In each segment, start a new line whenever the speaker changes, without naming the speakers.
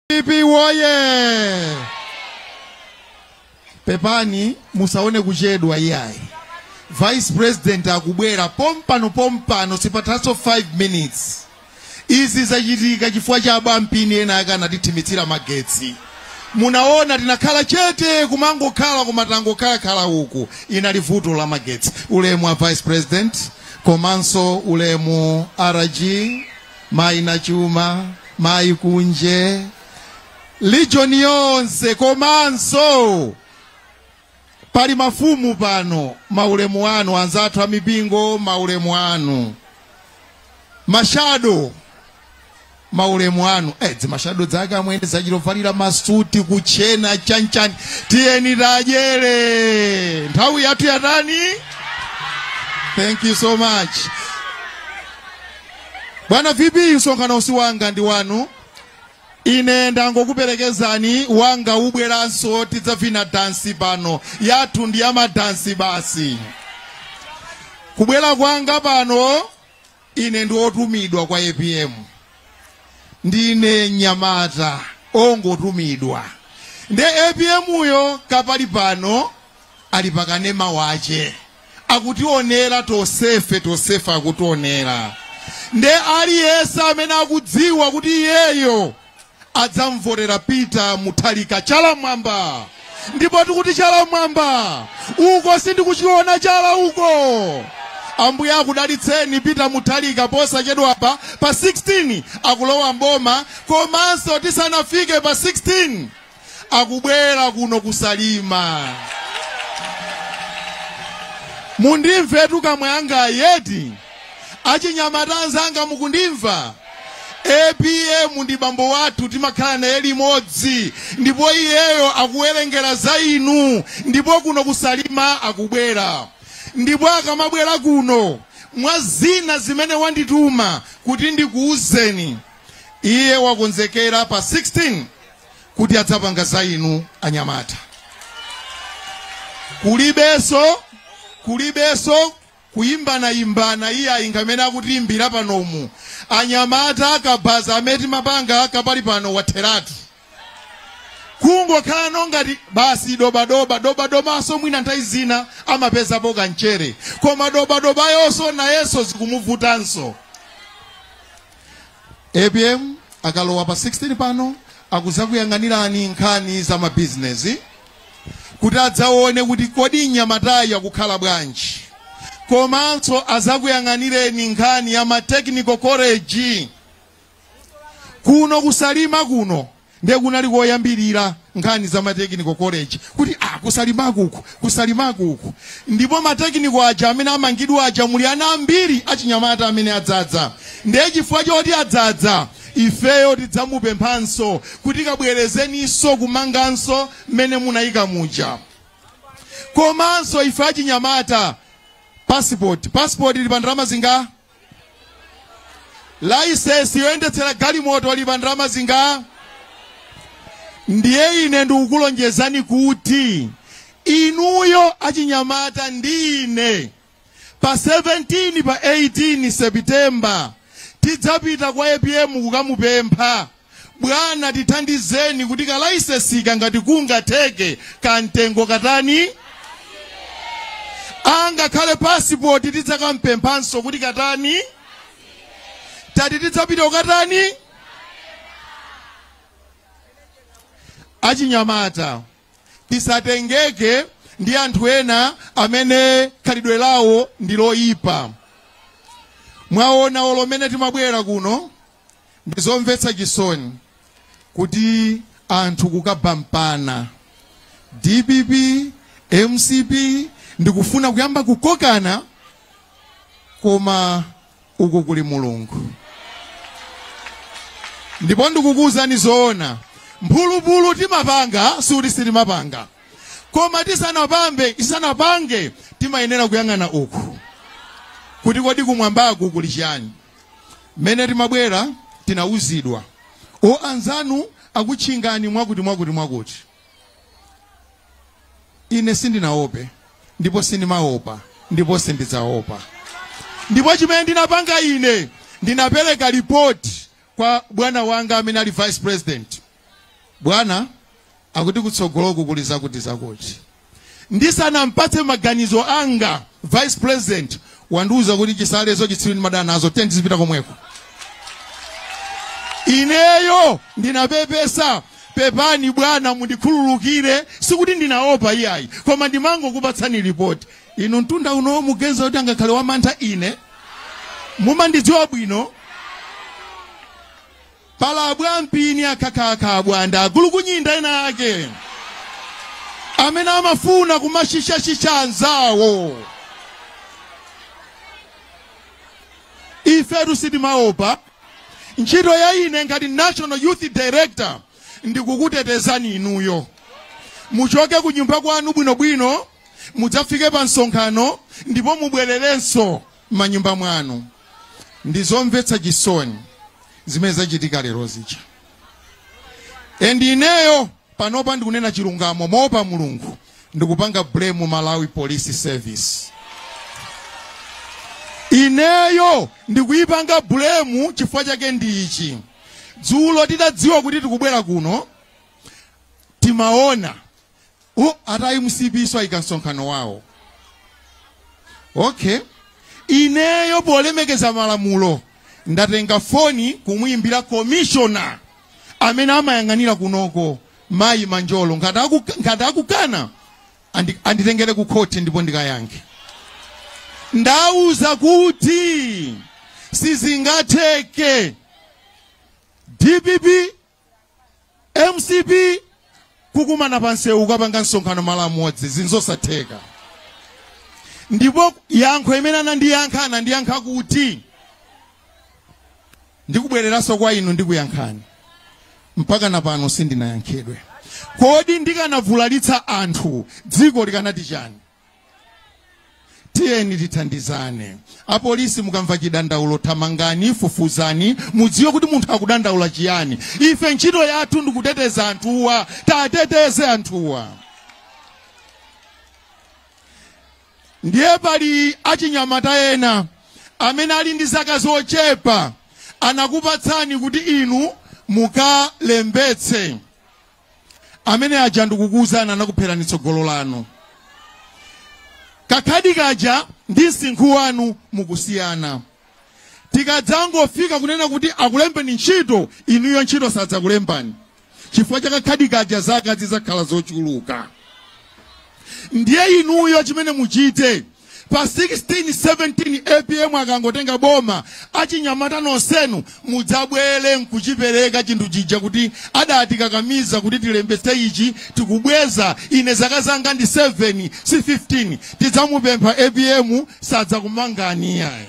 Pipi woye! Pepani musaone kuchedwa iyayi. Vice President akubwera pompano pompano sipathanso 5 minutes. Izi zachitika chifukwa cha abwampini enaake anatithimitsira magetsi. Munaona tinakhala chete kumangokhala koma tangokhala khala uko inali vuto la magetsi. Ulemu wa Vice President komanso ulemu RG mayi Nachuma mayi Kunje region yonse komanso pali mafumu pano maulemu anu anzathu amipingo maulemu anu mashado maulemu anu azimashado anzake amwene achita kuvalira masuti kutchena chanichani tiyeni tidyere nthawi yathu yatani thank you so much bwana vp msonkhanowu si wanga ndi wanu ine ndangokuperekezani wanga ubweranso tidzavina dansi pano yathu ndi yamadansi basi kubwera kwanga pano ine ndi otumidwa kwa apm ndine mnyamata ongotumidwa nde apm uyo kaya pali pano ali pakanema wache akutionera tosefe tosefe akutionera nde aliyense amene akudziwa kuti iyeyo adzamvotera Peter Mutharika chala m'mwamba ndipo tikuti chala m'mwamba uko sindikuchiona chala uko ambuye akudalitseni Peter Mutharika posachedwapa pa 16 akulowa m'boma komanso tisanafike pa 16 akubwera kuno ku Salima mundimvetu amwene anga eti achinyamata anzanga mukundimva apm ndi bambo wathu timakhala naye limodzi ndipo iyeyo akuwerengera za inu ndipo kuno ku Salima akubwera ndipo akamabwera kuno mwa zina zimene wandituma kuti ndikuwuzeni iye wakonzekera pa 16 kuti adzapanga za inu anyamata kulibenso kulibenso kuyimbana yimbana iye ayi ngati amene akutiyimbira panomu anyamata akabaza amati mapanga kapali pano watheratu kungokhala pano ngati basi dobadoba dobadobanso mwina nthawi zina amapezapo kamchere koma dobadobayonso nayenso zikumuvutanso apm akalowa pa 16 pano akudzakuyang'anirani nkhani za mabizinesi kuti adzaone kuti kodi anyamatawa akukhala bwanji komanso adzakuyang'anireni nkhani ya ma technical college kuno ku Salima kuno Ndiye kunali koyambirira nkhani za ma technical college kuti ah ku Salimaku uku, ku Salimaku uku. Ndipo ma technical aja amene amangidwa aja muli ana ambiri achinyamata amene adzadza. Ndiye chifukwa choti adzadza ifeyo tidzamupemphanso kuti kabwerezeninso kumanganso mmene munayika muja. Komanso ife achinyamata passport, passport ili pa ndalama zinga? Licence yoyendetsera galimoto ili pa ndalama zinga? Ndiye ine ndikukulonjezani kuti inuyo achinyamata ndi ine pa 17 pa 18 September tidzapita kwa APM kukamupempha Bwana tithandizeni kuti ka licenseka ngati kungatheke ka mtengo katani angakhale pasipoti tidzakampemphanso kuti katani tati tidzapita kukatani achinyamata tisatengeke ndi anthu ena amene khalidwe lawo ndi loyipa mwaona olo mmene timabwera kuno Ndi zomvetsa chisoni kuti anthu kukabampana dpp mcp ndi kufuna kuyamba kukokana koma uku kuli mulungu ndipo ndikukuwuzani zoona mphulupulu timapanga sikuti sitimapanga koma tisanapambe tisanapange timayenera kuyang'ana uku kuti kodi kumwambaku kuli chani mmene timabwera tinauzidwa o anzanu akutchingani mwakuti mwakuti mwakuti ine sindinaope ndipo sindimaopa ndipo sindidzaopa ndipo chimene ndinapanga ine ndinapereka ripoti kwa bwana wanga amene ali vice president bwana akuti kutsogoloku kuli zakuti zakuti ndisanampatse maganizo anga vice president wandiuza kuti Chisale zauchitsiru ndimadana nazo tiyeni tizipita komweko ineyo ndinapepesa pepani bwana mundikhululukire sikuti ndinaopa iyayi koma ndimangokupatsani ripoti inu mtunda unowo muganiza kuti angakhale wamantha ine mumandidziwa bwino Pali abwampini akhakhakha abwanda agulukunyinda ena ake amene amafuna kumashisha-shisha anzawo. Ifetu sitimaopa. Ntchito ya ine ngati National Youth Director ndikukutetezani inuyo. Muchoke kunyumba kwanu bwinobwino, mudzafike pa msonkhano ndipo mubwererenso m'manyumba mwanu ndi zomvetsa chisoni zimene zachitika lero zija and ineyo panopa ndikunena chilungamo moopa mulungu ndikupanga blame malawi police service ineyo ndikuyipanga blame chifukwa chake ndi ichi dzulo titadziwa kuti tikubwera kuno timaona a- a mcp-nso ayika msonkhano wawo okay ineyo polemekeza malamulo ndatenga foni kumuyimbira komishona amene amayang'anira kunoko mayi manjolo ngati akukana anditengere ku khoti ndipo ndikayankhe ndauza kuti sizingatheke dpp mcp kukumana pa msewu kukapanga msonkhano malo amodzi zinthu zosatheka ndipo yankho imene anandiyankha anandiyankha kuti ndikubwereranso kwa inu ndikuyankhani mpaka na pano sindinayankhidwe kodi ndikanavulalitsa anthu dziko likanati chani tiyeni tithandizane apolisi mukamva chidandaulo thamangani fufuzani mudziwe kuti munthu akudandaula chiyani ife ntchito yathu ndikuteteza anthuwa tiateteze anthuwa ndiye pali achinyamata ena amene ali ndi zaka zochepa anakupatsani kuti inu mukalembetse amene aja ndikukuwuzani anakupherani tsogolo lanu kakhadi kaja ndi msinkhu wanu mukusiyana tikadzangofika kunena kuti akulembeni ntchito inuyo ntchito sadzakulembani chifukwa cha kakhadi kaja zaka zidzakhala zochuluka ndiye inuyo chimene muchite Pa 16, 17 apm akangotenga boma, achinyamata nonsenu mudzabwere nkuchipereka chinthu chija kuti adatikakamiza kuti tilembetse ichi tikubweza. Ine zaka zanga ndi 7 si 15. Tidzamupempha apm sadzakumangani iyayi.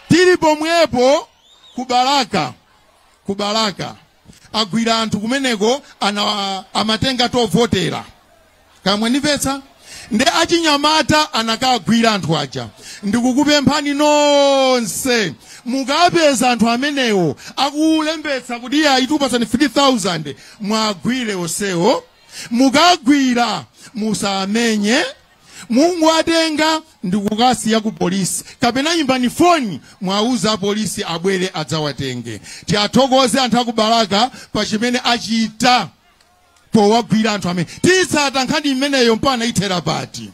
Tili pomwepo ku Balaka. agwira anthu kumeneko ana amatenga tovotera kamwenivetsa ndiye achinyamata anakagwira anthu aja ndikukupemphani nonse mukapeza anthu amenewo akulembetsa kuti atikupatsani 3000 mwagwire onsewo mukagwira musamenye mungowatenga ndikukasiya ku polisi kapena imbani foni mwauza apolisi abwere adzawatenge tiathokoze anthu a ku balaka pa chimene achita powagwira anthu amene titsata nkhani imeneyo mpaka ithera pati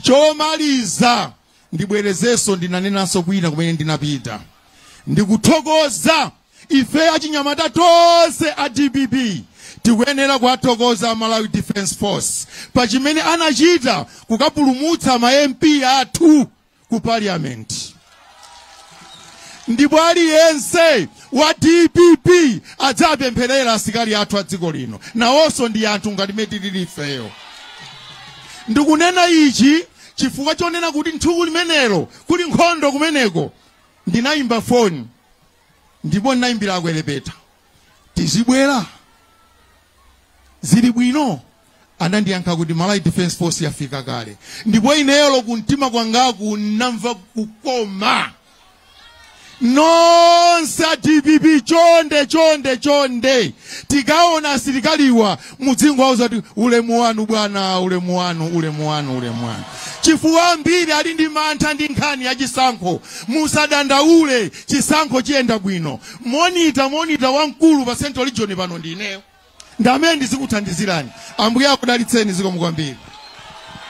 chomaliza ndibwerezenso ndinanenanso kwina kumene ndinapita ndikuthokoza ife achinyamata tonse a dpp tikuyenera kuwathokoza a malawi defense force pa chimene anachita kukapulumutsa ma mp athu ku parliament ndipo aliyense wa dpp adzapempherera asikali athu a dziko lino nawonso ndi anthu ngati mmene tilili ifeyo ndikunena ichi chifukwa chonena kuti tsiku limenelo kuli nkhondo kumeneko ndinayimba foni ndipo ndinayimbira akwelepeta tizibwera zili bwino anandiyankha kuti malawi defense force yafika kale ndipo ineyo kumtima kwangaku ndinamva kukoma nonse a dpp chonde chonde chonde tikaona asilikaliwa muzingowauza kuti ulemu wanu bwana ulemu wanu ulemu wanu ulemu wanu chifukwa ambiri ali ndi mantha ndi nkhani ya chisankho musadandaule chisankho chiyenda bwino monita monita wamkulu pa central region pano ndi ineyo ndi amene ndizikuthandizirani ambuye akudalitseni zikomo kwambiri